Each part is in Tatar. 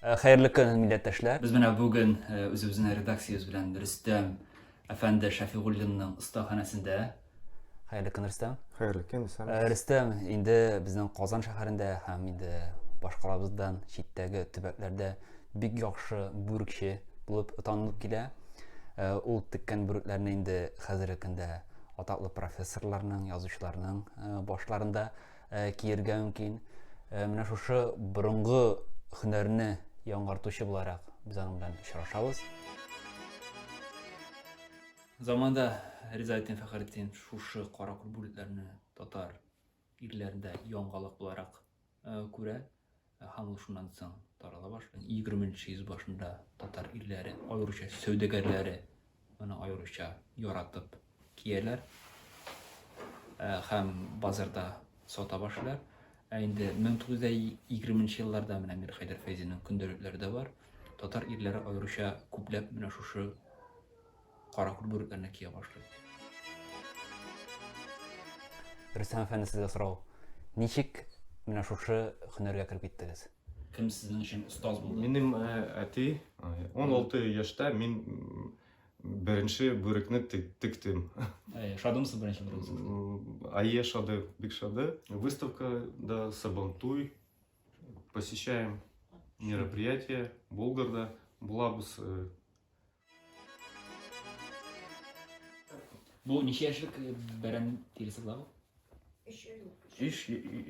Э, хәерле көн, милләттәшләр. Без менә бүген э, үзебезнең редакциябез белән Рөстәм әфәнде Шәфигуллинның остаханәсендә Хәерле көн, Рөстәм. Хәерле көн, Рөстәм. Э, Рөстәм, инде безнең Казан шәһәрендә һәм инде башкалабыздан читтәге төбәкләрдә бик яхшы бүрекче булып танылып килә. Э, ул теккән бүрекләрне инде хәзерге көндә атаклы профессорларның, язучыларның э, башларында киергә мөмкин. Менә шушы борынгы һөнәрне яңартучы буларак без аның белән очрашабыз. Заманда Ризаэддин Фәхретдин шушы каракүл бүлекләрне татар ирләрендә яңалык буларак күрә һәм ул шуннан соң тарала башлый. 20 нче йөз башында татар ирләре, аеруча сәүдәгәрләре моны аеруча яратып кияләр һәм базарда сата башлыйлар. Ә инде 1920 нче елларда менә Мирхәйдәр Фәйзинең көндәлекләре дә бар. Татар ирләре аеруча күпләп менә шушы каракүл бүрекләренә кия башлый. Рөстәм әфәнде, сезгә сорау, ничек менә шушы һөнәргә кереп киттегез? Кем сезнең өчен остаз булды? Минем әти 16 яшьтә мин беренче бүрекне тектем. Шадымсыз беренче бүрегезгә? Әйе, шады, бик шады. Выставкада Сабантуй посещаем мероприятие, Болгарда булабыз. Бу ничә яшьлек э, бәрән тиресе була бу? Өч ай ул. Өч,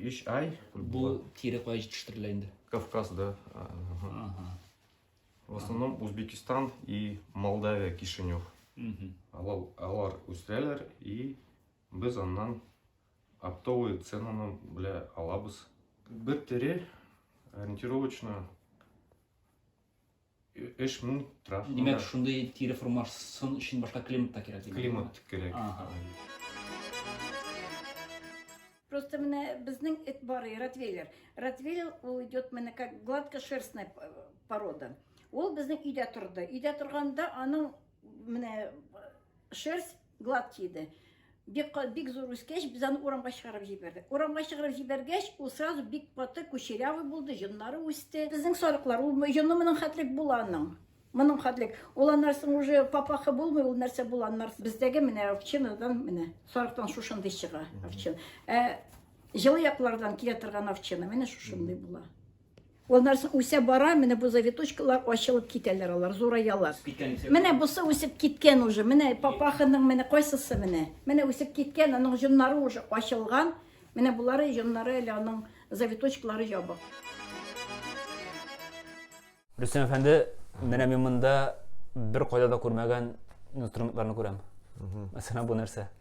өч ай. Бу тире кая җитештерелә инде? Кавказда. а, ага. Ага. В основном Узбекистан и Молдавия, Кишинев. Мгм. Алар, алар үстерәләр и без аннан оптовый ценаны белә алабыз. Бер тере ориентировочно Эш мун траф. Димәк, шундый тире формасын өчен башка климат та кирәк. Климат кирәк. Ага. Просто менә безнең эт бар, ротвейлер. Ротвейлер ул идет менә как гладкошерстная э, порода. Ул безнең өйдә торды. Өйдә торганда аның менә э, шерсть Глад киде. Бик, бик зур үскәч, без аны урамга чыгарып җибәрдек. Урамга чыгарып җибәргәч, ул сразу бик каты кучерявый булды, җоннары үсте. Безнең сарыклар, ул җоны моның хәтлек була аның. Моның хәтлек. Ул аннарсың уже папахы булмый, ул нәрсә була аннар. Бездәге менә овчинадан менә сарыктан шушындый чыга овчина. Ә җылы яклардан килә торган овчина менә шушындый була. Аннан соң үсә бара, менә бу завиточкалар ачылып китәләр алар, зураялар. Менә бусы үсеп киткән уже, менә папаханың менә кайсысы менә. Менә үсеп киткән, аның җоннары уже ачылган. Менә булары җоннары әле аның завиточкалары ябык. Рөстәм әфәнде, менә мин монда бер кайда да күрмәгән инструментларны күрәм. Мәсәлән, бу нәрсә?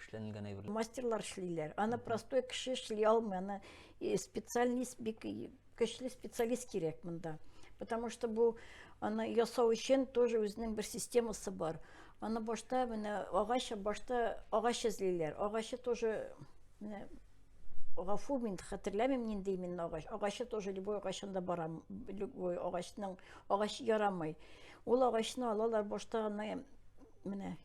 эшләнелгән әйберләр. Мастерлар эшлиләр. Аны простой кеше эшли алмый. Аны э, специалист бик көчле специалист кирәк монда. Потому что бу аны ясау өчен тоже үзенең бер системасы бар. Аны башта менә агач башта агач эзлиләр. Агачы тоже менә гафу мин хәтерләмим нинди именно агач. Агачы тоже любой агачында барам. Любой агачның агач ярамый. Ул агачны алалар башта гына менә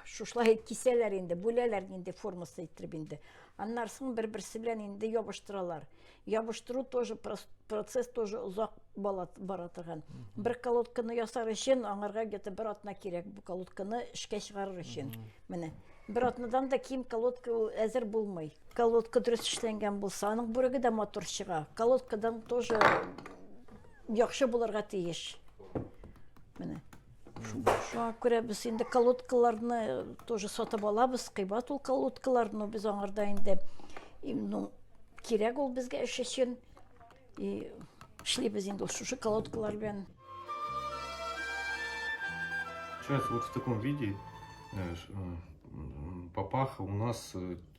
шушылай кисәләр инде, бүләләр инде формасы иттереп инде. Аннан соң бер-берсе белән инде ябыштыралар. Ябыштыру тоже процесс тоже озак бара торган. Бер колодканы ясар өчен аңарга где-то бер атна кирәк бу колодканы эшкә чыгарыр өчен. Менә бер атнадан да ким колодка ул әзер булмый. Колодка дөрес эшләнгән булса, аның бүреге дә матур чыга. Колодкадан тоже Яхшы булырга тиеш. Менә. Шуңа күрә без инде колодкаларны э, тоже сатып алабыз, кыйбат ул колодкалар, но без аңарда инде ну, кирәк ул безгә эш өчен. И эшлибез инде шушы колодкалар белән. Сейчас вот в таком виде э, э, папаха у нас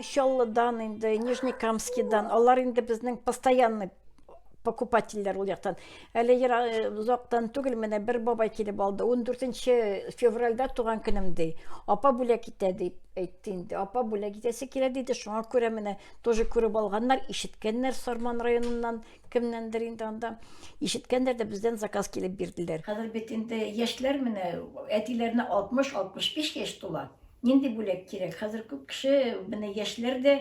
Чаллыдан инде, Нижнекамскидан, алар инде безнең постоянный покупательләр ул яктан. Әле э, озактан түгел менә бер бабай килеп алды. 14 февральдә туган көнем ди. Апа бүләк итә дип әйтте инде. Апа бүләк итәсе килә диде. Шуңа күрә менә тоже күреп алганнар, ишеткәннәр Сарман районыннан Кемнәндер инде анда ишеткәндер дә бездән заказ килеп бирделәр. Хәзер бит инде яшьләр менә әтиләренә 60-65 яшь тула. Нинди бүләк кирәк? Хәзер күп кеше менә яшьләр дә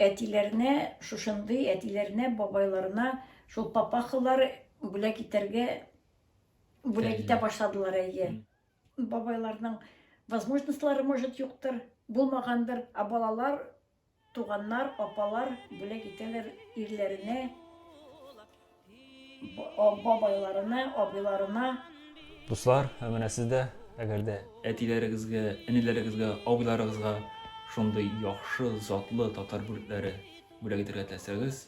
әтиләренә шушындый, әтиләренә, бабайларына шул папахалар бүләк итәргә бүләк итә башладылар әйе. Бабайларның возможностьлары может юктыр, булмагандыр, а балалар Туганнар, апалар бүләк итәләр ирләренә, бабайларына, абыйларына. Дуслар, ә менә сез дә, әгәр дә. Әтиләрегезгә, энеләрегезгә, абыйларыгызга шундый яхшы, затлы татар бүлекләре бүләк итәргә теләсәгез,